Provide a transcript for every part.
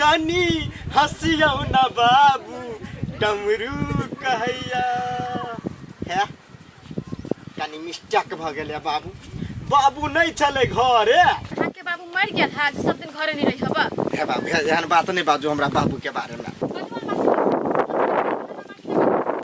कनी हसियौ न बाबू डमरू कहैया है कनी मिस्टेक भ गेलै बाबू बाबू नहि छलै घरे अहाँ के बाबू मर गेल है जे सब दिन घरे नहीं रही हबा हे बाबू हे- एहन बात नहि बाजू हमरा बाबू के बारे में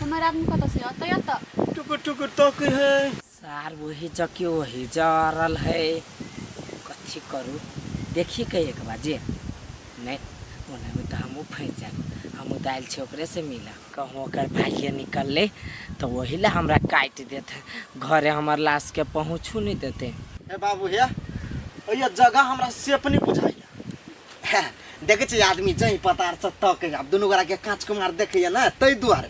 हमर आदमी कतऽ से अतै अतऽ टुकुर टुकुर तकै है सार वही जके वही जरल है कथी करू देखी के एक बार जे नहीं ओने में तो हमहूँ फंस जाए हमहूँ तो आयल छे ओकरे से मिल कहूँ ओकर भाइये निकलले तो वही ला हमरा काट देत है घरे हमर लाश के पहुँचू नहीं देते ए बाबू हे अइया जगह हमरा सेफ नहीं बुझाइया देखै छै आदमी जही पतार से तक आब दुनू गोरा के कांच कुमार देखैया ना तै दुआरे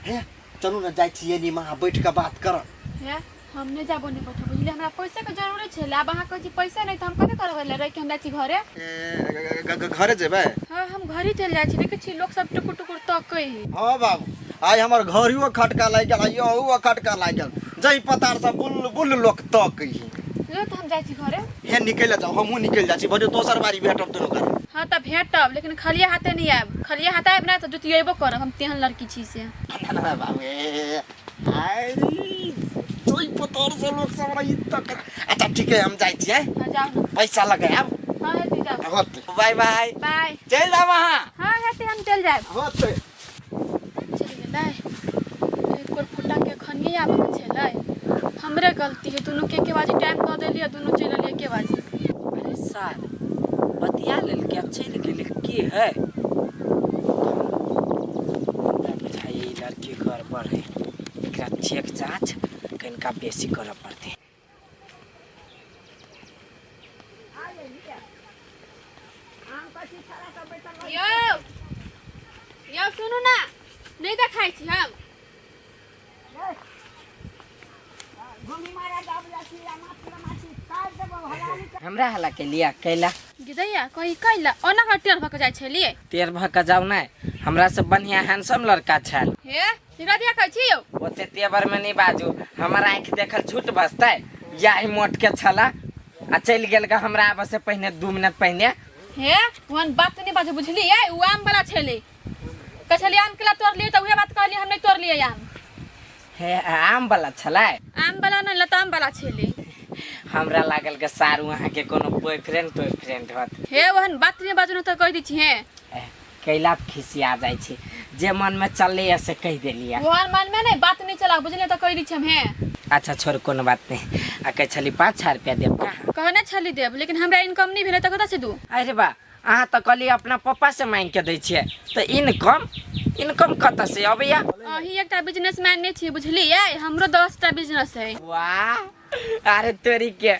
हे चलू ना जाइ छियै नी महा बैठ के बात करब हे हम नहीं जाबो नहीं बैठो बुझले हमरा पैसा के जरूरी छै आब अहाँ कहै छी पैसा नहीं तो हम कथी करबै ले रह के हम जाइ छी घरे ए, घ- घ- घरे जेबै हाँ हम घरे चल जाइ छी देखै छी लोग सब टुकुर टुकुर तकै है हाँ बाबू आइ हमर घरियो खटका लागि गेल आइ अहुओ खटका लागि गेल जही पतार से बुल बुल लोक तक ही ले तो हम जाइ छी घरे हे निकल जाओ हमहू निकल जाए छी बड़े दोसर बारी भेटब दुनू कर हाँ तऽ भेटब लेकिन खालिए हाथे नहीं आयब खालिए हाथ आयब ने तऽ जुतियेबो करब हम तेहन लड़की छी से ना बाबू ए, आय जोई पतर से लोग सब रही तक अच्छा ठीक है हम जाए छी हैं? हाँ जाओ ना पैसा लगाएब हाँ हेती जाओ होते बाय बाय बाय चल जाब अहाँ हाँ हेती हम चल जाए होते चलि गेलै एक बेर फुटाके एखन नहि आबैके छलै हमरे गलती है दुनूके एके बाजी टाइम दऽ देलियै दुनू चलि गेलियै एके बाजी अरे सार बतिया लेलकै आ चलि गेलै की है हमरा बुझाइए ई लड़की गड़बड़ है एकरा चेक जाँच कनिका बेसी करऽ पड़तै यो यो सुनू ना नहीं देखाई छी हम हमरा हला के लिया कैला गिदैया कही कैला ओना का टेढ़ भक जाय छलिए तेर भक जाऊ नै हमरा से बढ़िया हैंडसम लड़का छल हे हीरा दिया कहै छी यौ ओते तेवर में नहीं बाजू हमर आँख देखल झूठ बसते यही मोट के छला आ चल गेल गा हमरा आबे से पहले दू मिनट पहले हे ओहन बात नहीं बाजू बुझलिए उ आम वाला छेले कहै छली आम केला तोड़ लिए तऽ उहे बात कहली हम नहीं तोड़ लिए आम हे आम वाला छला आम वाला नहीं लताम वाला छेले हमरा लागल के सारू अहाँ के कोनो बॉयफ्रेंड टॉयफ्रेंड हत हे ओहन बात नहीं बाजू नहीं तऽ कहि दै छी हे कैला पे खिसिया जाइ छै जे मन में चले या से कह देलिया तोहर मन में नहीं बात नहीं चला बुझलिए तो कह दी छे हे अच्छा छोड़ कोनो बात नहीं आ कहे छली पाँच हजार रुपया देब का कहने छली देब लेकिन हमरा इनकम नहीं भेले तो कत से दू अरे बा अहाँ तऽ कहली अपना पप्पा से मांग के दै छियै तऽ इनकम इनकम कतऽ से अबैया अही एकटा बिजनेसमैन नहीं छी बुझलिए हमरो दस टा बिजनेस है वाह अरे तोरी के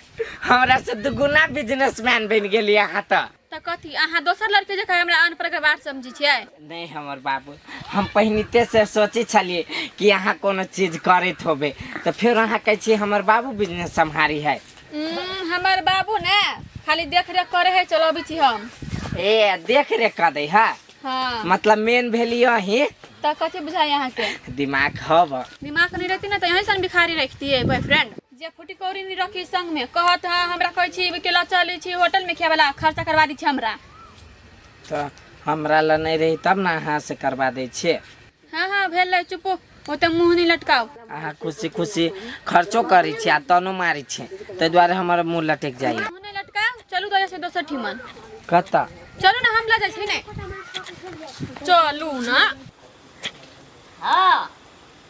हमरा से दुगुना बिजनेसमैन बन गेली अहाँ तऽ तऽ कथी अहाँ दोसर लड़के जकाँ हमरा अनपढ़ गवार समझै छियै नहीं हमर बाबू हम पहिनिते से सोचे छलिए कि अहाँ कोनो चीज करैत होबे तो फिर अहाँ कहे छी हमर बाबू बिजनेस सम्हारी है उम्म, हमर बाबू ने खाली देख रेख करे है चलो अभी छी हम ए देख रे कर दे है हाँ मतलब मेन भेली अही तऽ कथी बुझाइ अहाँके दिमाग हब दिमाग नहीं रहती ना तो यहीं से हम भिखारी रखती है बॉयफ्रेंड जे फुटी कौड़ी नहीं रखी संग में कहत है हमरा कहै छी अकेला चलै छी होटल में खेवाला खर्चा करवा दी छी हमरा तऽ हमरा लए नहि रही तब ने अहाँ से करवा दै छियै हाँ हाँ भेल है चुपो ओते मुंह नहीं लटकाओ अहाँ खुशी खुशी खर्चो करै छी आ तनो मारै छी ताहि दुआरे हमर मुँह लटकि जाइए मुंह नहीं लटकाओ चलू तो जैसे दोसर ठिमन कतऽ चलू ना हम ला जाइ छी ने चलू ना हाँ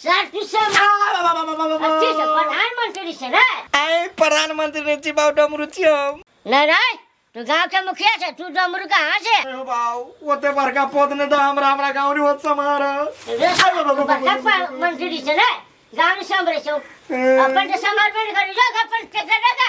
सर तू सब अच्छे से प्रधानमंत्री से ना आए प्रधानमंत्री ने जी बाबू डमरू छी हम ना ना तू गांव के मुखिया से तू डमरू कहाँ से अरे बाबू ओते बड़का पद ने दा हमरा हमरा गाँव रे होत समार रे सब तू बड़का प- मंत्री से ना गांव से हमरे से अपन तो समर्पण करी जो अपन टेकड़ा का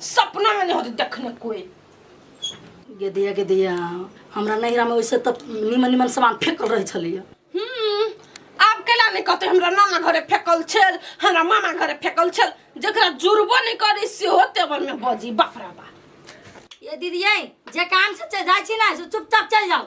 सपना में नहीं होते देखने कोई गे दिया गे दिया हमरा नैहरा में वैसे तब निमन निमन सामान फेंकल रहे छलिए हम्म आप केला नहीं कहते हमरा नाना घरे फेकल छल हमरा मामा घरे फेकल छल जकरा जुड़बो नहीं करे से हो तेवर में बजी बाप रे बाप ये दीदी ये जे काम से चल जाए छी ना से चुपचाप चल जाओ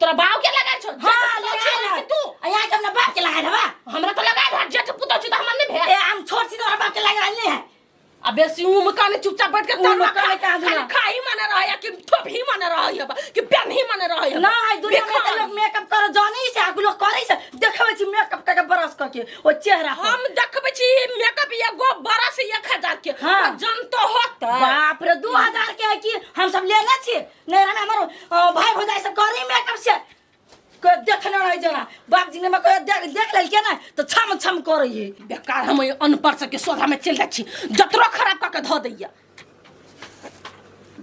तोरा बाव के लगाय छौ हाँ, जेठ पुतौ लगाय छियै रहल। कि तू आ यहाँ के अपना बाप के लगाय रहबा हमरा तो लगाय रहा जेठ पुतौ छी त हमरा नहीं भेल ए हम छोट छी तोहर बाप के लगाय रहल नहीं है आ बेसी उम काने चुपचाप बैठ के उम तनवा काने खा- कहाँ दूना? खाली खाही माने रहै कि ठोप ही माने रहै हबा कि पेन ही माने रहै हबा ना है दुनिया में बेकार। तो लोग मेकअप कर जाने ही से आगू लोग करे से देखबे छी मेकअप करके ब्रश करके ओ चेहरा पर। हम देखबै छी मेकअप या गो बड़ा से 1000 के हाँ। तो जनतो होत बाप रे दू हजार के है कि हम सब लेने छी नैहरा में हमार अ, भाई भौजाई सब करी में कब से कोई देखने नहीं जाना बाप जी ने मैं कोई देख देख लेल के ना तो छम छम कर रही है बेकार हम ये अनपढ़ सब के सोधा में चल जाइ छी जतरो खराब कऽ के धऽ दैया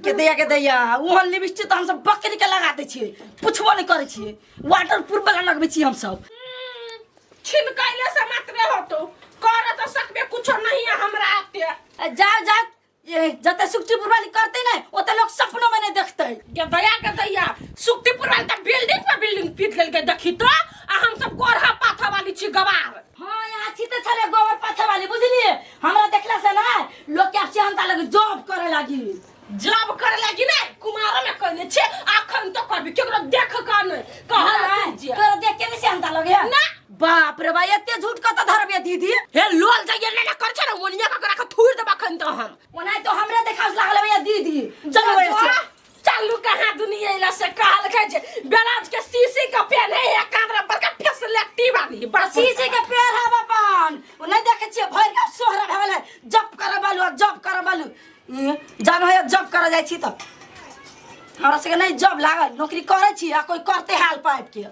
के दैया के दैया वहाँ लिपस्टिक तो हम सब बकरी के लगा दै छियै पुछबो नहीं करे छियै वाटर प्रूफ वाला लगबै छियै हम सब छिनकैले से मात्र होतो कर तऽ सकबे कुछो नहीं है हमरा आते जाओ जाओ ये जते सुक्तिपुर वाली करते ना ओते लोग सपनों में नहीं देखते के दया के दैया सुक्तिपुर वाली त बिल्डिंग पर बिल्डिंग पीट लेलके देखी तो आ हम सब गोरहा पाथा वाली छी गवार हाँ यहाँ छी तो छले गोबर पाथे वाली बुझलिए हमरा देखला से ना लोग के आपसे अंता लगे जॉब करे लगी जॉब करे लगी ना कुमार में कहने छी अखन तो करबी केकरो देख का नहीं कहल नहीं कीजिए तोरा देख के नहीं से अंता लगे ना बाप रे बा एते झूठ कत धरबे दीदी हे लोल जाइए ले ना कर छे ओनिया का करा के थूर देबा खन त हम ओना तो हमरे देखास लागल भैया दीदी चल बड़े से चलू कहाँ दुनिया इला से कहल के जे बेलाज के सीसी का पेन है या कांदरा पर का फेस लेटी वाली बस सीसी के पेड़ है बापान ओ नहीं देखे छिए भर के सोहरा भेल है जप कर बालू जप कर बालू ई जानो है जप कर जाय छी त हमरा सके नहीं जब लागल नौकरी करे छी आ कोई करते हाल पाइप के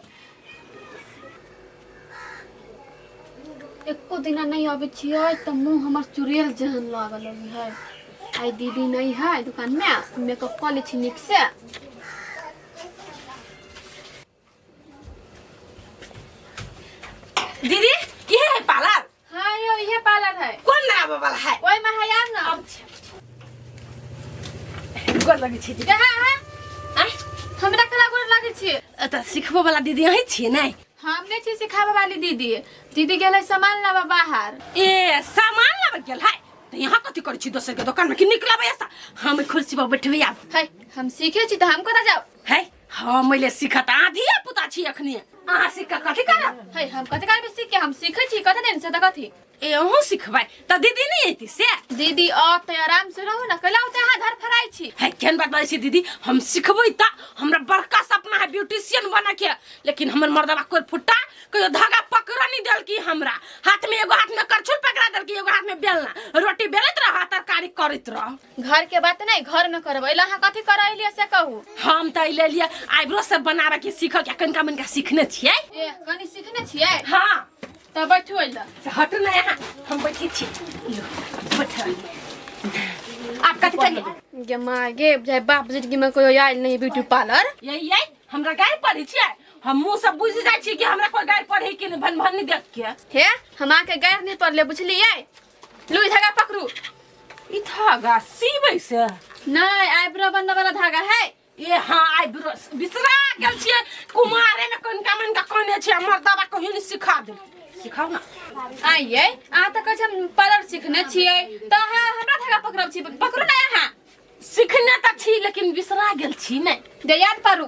एको दिना नहीं आबे छियै तऽ मुँह हमर चुड़ैल जेहन लागल अभी है आई दीदी नहीं है दुकान में मेकअप कऽ लै छी नीक से दीदी ये है पार्लर हाँ यो ये पार्लर है कौन लगाबे वाला है ओए में है यार ना गोर लगे छी दीदी कहाँ है आय, हमरा कला गोर लगे छी एतऽ सिखबो वाला दीदी अहीं छियै ने हम नहीं छी सिखाबे वाली दीदी दीदी गेलै सामान लाबा बाहर ए सामान लाबे गेल है तऽ यहाँ कथी करै छी दोसर के दोकान में कि निकलबै ऐसा हम कुर्सी पर बैठबै आब है हम सीखे छी तो हमको ना जाओ है हाँ मैले सिखत आ धिया पुता छी अखनी अहाँ सिख कऽ कथी करब है हम कते काल में सीख के हम सीखे छी कते दिन से त कथी ए अहूँ सिखबै तऽ दीदी नहि अयती से दीदी आप त आराम से रहो ना कैला होते अहाँ घर फराई छी है केहन बात बाजै छी दीदी हम सिखबै तऽ हमरा बड़का सपना है ब्यूटिशियन बने के लेकिन हमर मर्दबा कोई फुट्टा कहियो धागा पकड़ नहीं देलकी हमरा हाथ में एगो हाथ में करछुल पकड़ा देलकी एगो हाथ में बेलना रोटी बेलैत रह तरकारी करैत रह घर के बात नहीं घर में करब अइला अहाँ कथी कर अइलिए से कहू हम त ले लिए आइब्रो सब बनाबे के सीख के कनका मनका सीखने छियै ए कनी सीखने छियै हां त बैठू अइला से हटू ना यहाँ हम बैठे छी लो बैठ आप कथी करिए गे माँ गे बुझाइ बाप जिंदगी में कोई आयल नहीं ब्यूटी पार्लर यही है हमरा गाय पढ़े छियै हम मुंह सब बुझ जाय छी कि हमरा कोई गाय पढ़े के नहीं भन भन देख के हे हम आके गैर नहीं पड़ले बुझलिए लुई धागा पकड़ू ई धागा सीबै से नहीं आईब्रो बनने वाला धागा है ए हाँ आइ ब्रश बिसरा गेल छियै कुमारे में कोन का मन का कोने छै हमर दादा कहियो ने सिखा दे सिखाउ ना आइए अहाँ तऽ कहै छी हम पार्लर सीखने छियै तऽ अहाँ हमरा धागा पकड़ब छी पकड़ू ने अहाँ सिखने तऽ छी लेकिन बिसरा गेल छी नै जे याद करू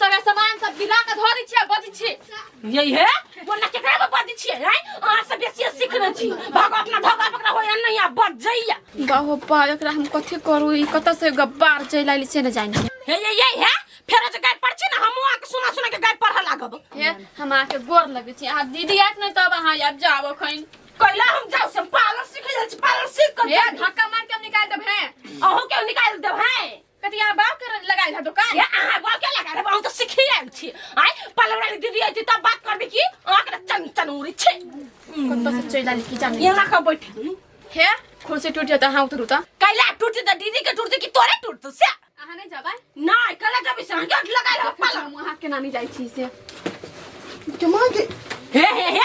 सगळे सामान सब गिरा के धरि छियै बजि छी यही है बोलना केकरा में बजि छियै हैं अहाँ सब बेसी सीखने छी भगवत ना धगा पकड़ा होय नहीं आ बज जइया बाहो पा एकरा हम कथी करू ई कत से गब्बार चलि आइल से न जानी हे ये ये है फेर जे गाय पर छी ना हम अहाँ के सुना सुना के गाय पढ़ लागब हे हम आके गोर लगे छी आ दीदी आत नै तब अहाँ आब जाओ खैन कैला हम जाऊ से पार्लर सीख लेल छी पार्लर सीख कर हे धक्का मार के हम निकाल देब हैं अहू के निकाल देब हैं कथी यहाँ बात कर लगाइल है दुकान या अहाँ बात क्या लगा रहे हम तो सीखी आयल छी आय पलवड़ा ली दीदी आई तब बात करबी की अहाँ के चन चन उरी छी कत से चल आली की जाने यहाँ का बैठ हे खुशी टूट जाता हाँ उतरू ता कैला टूट जाता दीदी के टूट की तोरे टूट तो से अहाँ नहीं जाबा नहीं कैला जब इसे हम जोट लगाइल है पल हम अहाँ के नानी जाई छी से जमा के हे हे हे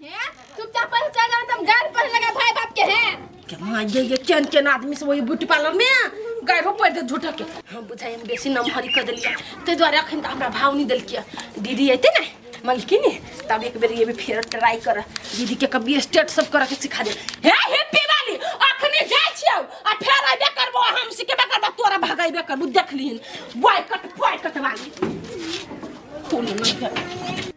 चुपचाप पैसा चल जाओ तुम गाल पर लगा भाई बाप के हैं केना ये ये केन केन आदमी से वही ब्यूटी पार्लर में गाड़ो पड़ दे झूठा के हम बुझाई हम बेसी नमहरी कर देलिए ते द्वारे अखन त हमरा भाव नहीं देलकिए दीदी अते ना मलकिन तब एक बेर ये भी फेर ट्राई कर दीदी के कभी स्टेट सब करे के सिखा दे हे हैप्पी वाली अखने जाय छियो आ फेर आबे करबो हम सिखेबे करबो तोरा भगाइबे करबो देख लिहन बॉयकट बॉयकट वाली तू नहीं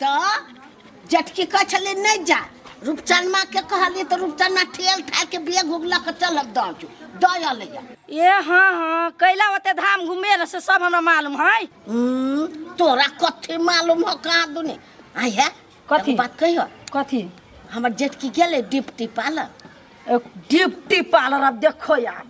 तऽ जटकी कहै छलै नहि जा रूपचनमाके कहलियै तऽ रूपचनमा ठेल ठाके बेग उग लऽ कऽ चलल दऽ जो दऽ अयलैया ए हाँ हाँ कैला ओते धाम घूमे रह से सब हमरा मालूम है हम्म, तोरा कथी मालूम हो कहाँ दुनी आई है कथी? एगो बात कहियो कथी हमर जेटकी गेलै डिप्टी पालर एक डिप्टी पार्लर अब देखो यार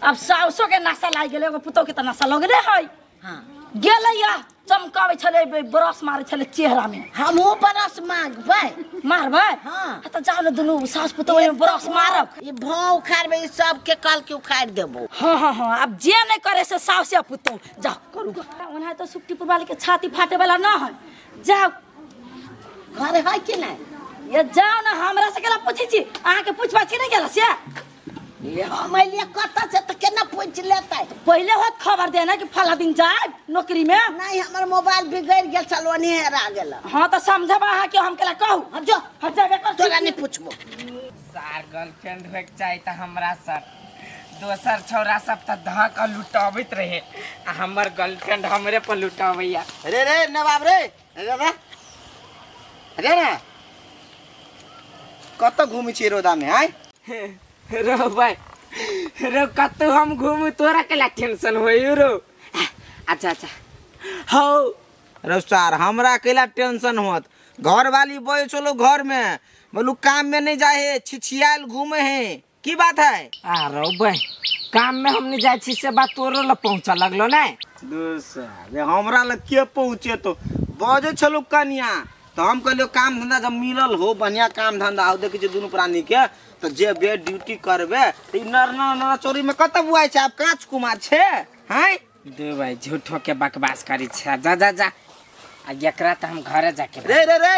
अब साउसो के नशा लाग गेलै एगो पुतोह के तऽ नशा लगले है हाँ गेलै या चमकाबै छलै ब- ब्रश मारै छलै चेहरा में हमहूँ बरस मांगबै मारबै हाँ। आ तऽ जाओ ने दुनू सास पुतोह ओहिमे ब्रश मारब ई भाव उखाड़बै ई सबके कल के उखाड़ि देबो हाँ हाँ हाँ आब जे नहि करे से साउसे पुतोह जाओ करू ग ओना तऽ सुक्ति पुरवाली के छाती फाटे वाला ना है जाओ घर है कि नहीं ये जाओ ना हमरा से केला पूछै छी अहाँके पूछबा छी नहि गेला से ये हमर लिए कत से त केना पूछ लेतै तो पहले होत खबर देना कि फला दिन जाए नौकरी में नहीं हमर मोबाइल बिगड़ गेल छल ओने हेरा गेल हाँ तो समझब अहाँ के हम केला कहू हट जो हट जाबे कर तोरा नहीं पूछबो सार गर्लफ्रेंड होइके चाही तऽ हमरा सर दोसर छौड़ा सब तऽ धऽ कऽ लुटबैत रहे आ हमर गर्लफ्रेंड हमरे पर लुटबैया रे रे नवाब रे दादा अरे ना कत घूमे छी रोदा में आय रो भाई रो कतू हम घूमू तोरा के ला टेंशन होई रो अच्छा अच्छा हो रो सार हमरा अकेला टेंशन होत घर वाली बोल चलो घर में बोलू काम में नहीं जाए है छिछियाल घूमे है की बात है अरे बे काम में हमने जाए छी से बात तोरो लग पहुंचा लगलो ने दूर से अरे हमरा लग के पहुँचे तो बजे छलो कनिया तो हम कहलियो काम धंधा जब मिलल हो बढ़िया काम धंधा हो देखी दुनू प्राणी के तो जेबे ड्यूटी करबे तो ई नर नर नर चोरी में कत बुआई छै आब काच कुमार छै हैं दे भाई झूठो के बकवास करी छे जा जा जा आ एकरा त हम घरे जाके रे रे रे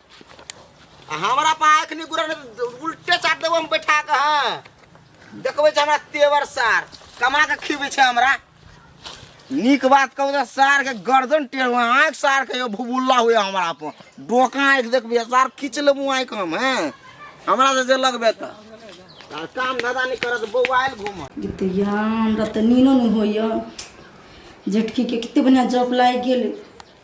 आ हमरा पा आँखि नहि गुरन उल्टे चाट देबो हम बैठा कऽ हँ देखबै छै हमरा तेवर सार कमा कऽ खिबै छै हमरा नीक बात कहू तऽ सार के गर्दन टेढ़ हुआ आँखि सार के यो भुबुल्ला हुए हमरा पर डोका आँखि देखबै सार खींच लेबू आँखि हम हैं हमरा से जे लगबे तऽ आ काम धंधा नहि करत बौआइल घूमत गिद्दया हमरा तऽ नीनो नहि होइए झटकीके कतेक बढ़िआँ जॉब लागि गेल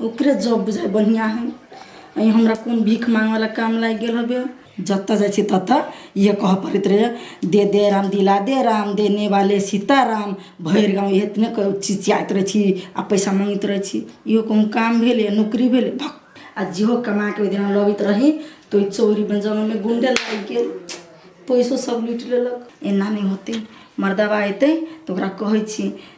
ओकरे जॉब बुझाइ बढ़िआँ हइ आओर ई हमरा कोन भीख माँगैवला काम लागि गेल हवे जतऽ जाइ छिए ततऽ इएह कहऽ पड़ैत रहैए दे दे राम दिला दे राम देने वाले सीता राम भरि गाम इएह एतने कहै चिचिआइत रहै छी आओर पइसा माँगैत रहै छी इहो कोनो काम भेलै आओर नोकरी भेलै भक आओर जेहो कमाके ओहिदिना लबैत रही तऽ ओहि चोरी बञ्जाबैमे गुण्डे लागि गेल पइसो सब लुटि लेलक एना नहि होतै मरदबा अएतै तऽ ओकरा कहै छी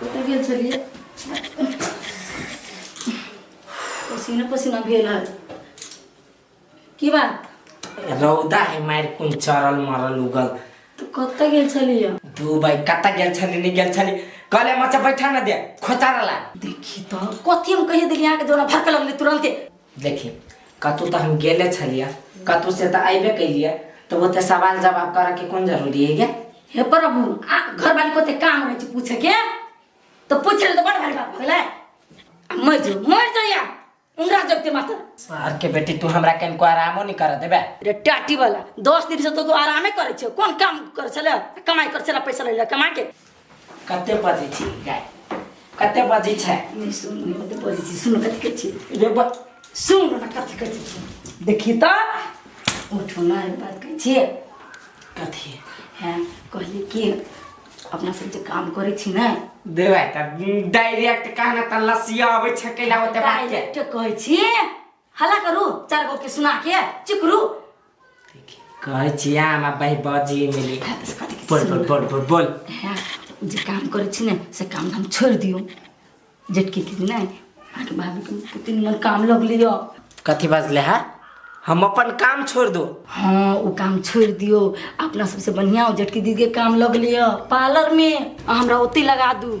कतऽ गेल छलियै पसीना पसीना भेल है की बात रौदा है मार कुन चरल मरल उगल तो कतऽ गेल छलियै दू भाई कतऽ गेल छली नहीं गेल छली कहले मचा बैठा ना दे खोचारा ला देखी तो कथी हम कहिए देली अहाँके जोना भड़क लगले तुरंते देखी कतहु तऽ हम गेले छलियै कतहु से तऽ अयबे कैलियै तऽ ओते सवाल जवाब करऽके कोन जरूरी है गे हे प्रभु आ घरवाली को ते काम रहे छै पूछे के तो पूछ ले तो बड़ भारी बात भले मर जो मर जो या उंगरा जब ते माता सर के बेटी तू हमरा कनको आरामो नहीं कर देबे रे टाटी वाला दस दिन से तो तू आरामे करे छे कौन काम करे छले कमाई करे छले पैसा ले कमा के कते बजै छी गाय कते बजै छै नहि सुन नहि कते बजै छी सुन कथी कहै छी जे ब- सुन ने कथी कहै छी देखी तऽ उठो ना एक बात कहै छियै कथी हैं कहली कि अपना सब जे काम करै छी ने देबै तऽ डायरेक्ट कहना तऽ लसिया अबै छै कैला होते बात के डायरेक्ट कहै छी हल्ला करू चार गो के सुना के चुप रू कहै छी अहाँ हमरा बहि बाजी मिली बोल बोल बोल बोल बोल हाँ, उ जे काम करै छी ने से काम धाम छोड़ि दियौ जेटकी दीदी नहि अहाँके भाभीके कते निमन काम लग लिअ कथी बाजले है हम अपन काम छोड़ दो हँ ओ काम छोड़ि दियौ अपना सबसँ बढ़िआँ ओ जेटकी दीदीके काम लग लिअ पार्लरमे आ हमरा ओतहि लगा दू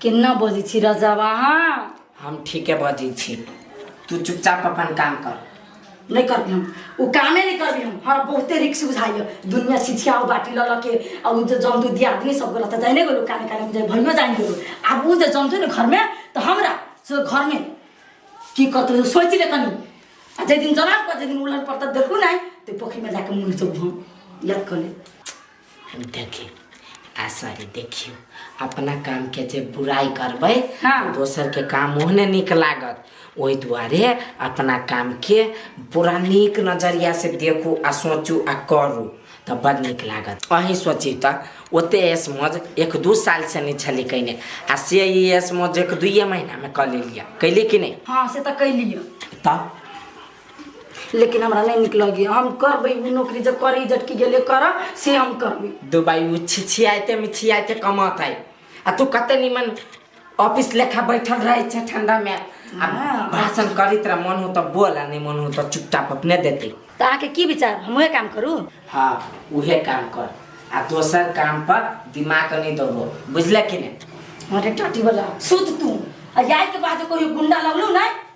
केना बजै छी राजा अहाँ हम ठीके बजै छी तू चुपचाप अपन काम कर नहीं करबी हम ओ कामे नहीं करबी हम हमरा बहुते रिक्स बुझाइए दुनिया सिछिया ओ बाटी लऽ लऽ के आ ओ जे जमदू दिया आदमी सब गेलो तऽ जाने गेलो काने काने जे भइयो जान गेलो आब ओ जे जमतै ने घरमे तऽ हमरा से घरमे की करतै सोचि ले कनी आ जाहि दिन जनाब पर जाहि दिन उलहन पर तऽ देखू नहि तऽ पोखरिमे जाके मुँह चोब हम याद कर ले देखियो आसवारी देखियो अपना काम के जे बुराई करबै हाँ। तो दोसर के काम ओहने नीक लागत ओहि दुआरे अपना काम के पूरा नीक नजरिया से देखू आ सोचू आ करू तऽ बड़ नीक लागत अहीं सोची तऽ ओते एस मौज एक दू साल से नहि छली कयने आ से ई एस मौज एक दुइए महीना में कऽ लेलियै कैली कि नहि हाँ से तो कैलियो तऽ लेकिन हमरा नहीं निक लगे हम करबे उ नौकरी जब करी जटकी गेले कर से हम करबे दुबई उ छिछियाते मिछियाते कमात है आ तू कते निमन ऑफिस लेखा बैठल रहे छे ठंडा में आ हाँ। भाषण करी तेरा मन हो तो बोल आ नहीं मन हो तो चुपचाप अपने देते तो आके की विचार हम वह काम करू हाँ उहे काम कर आ दोसर काम पर दिमाग नहीं दबो बुझले कि नहीं अरे टटी वाला सुत तू आ जाए के बाद कोई गुंडा लगलो ना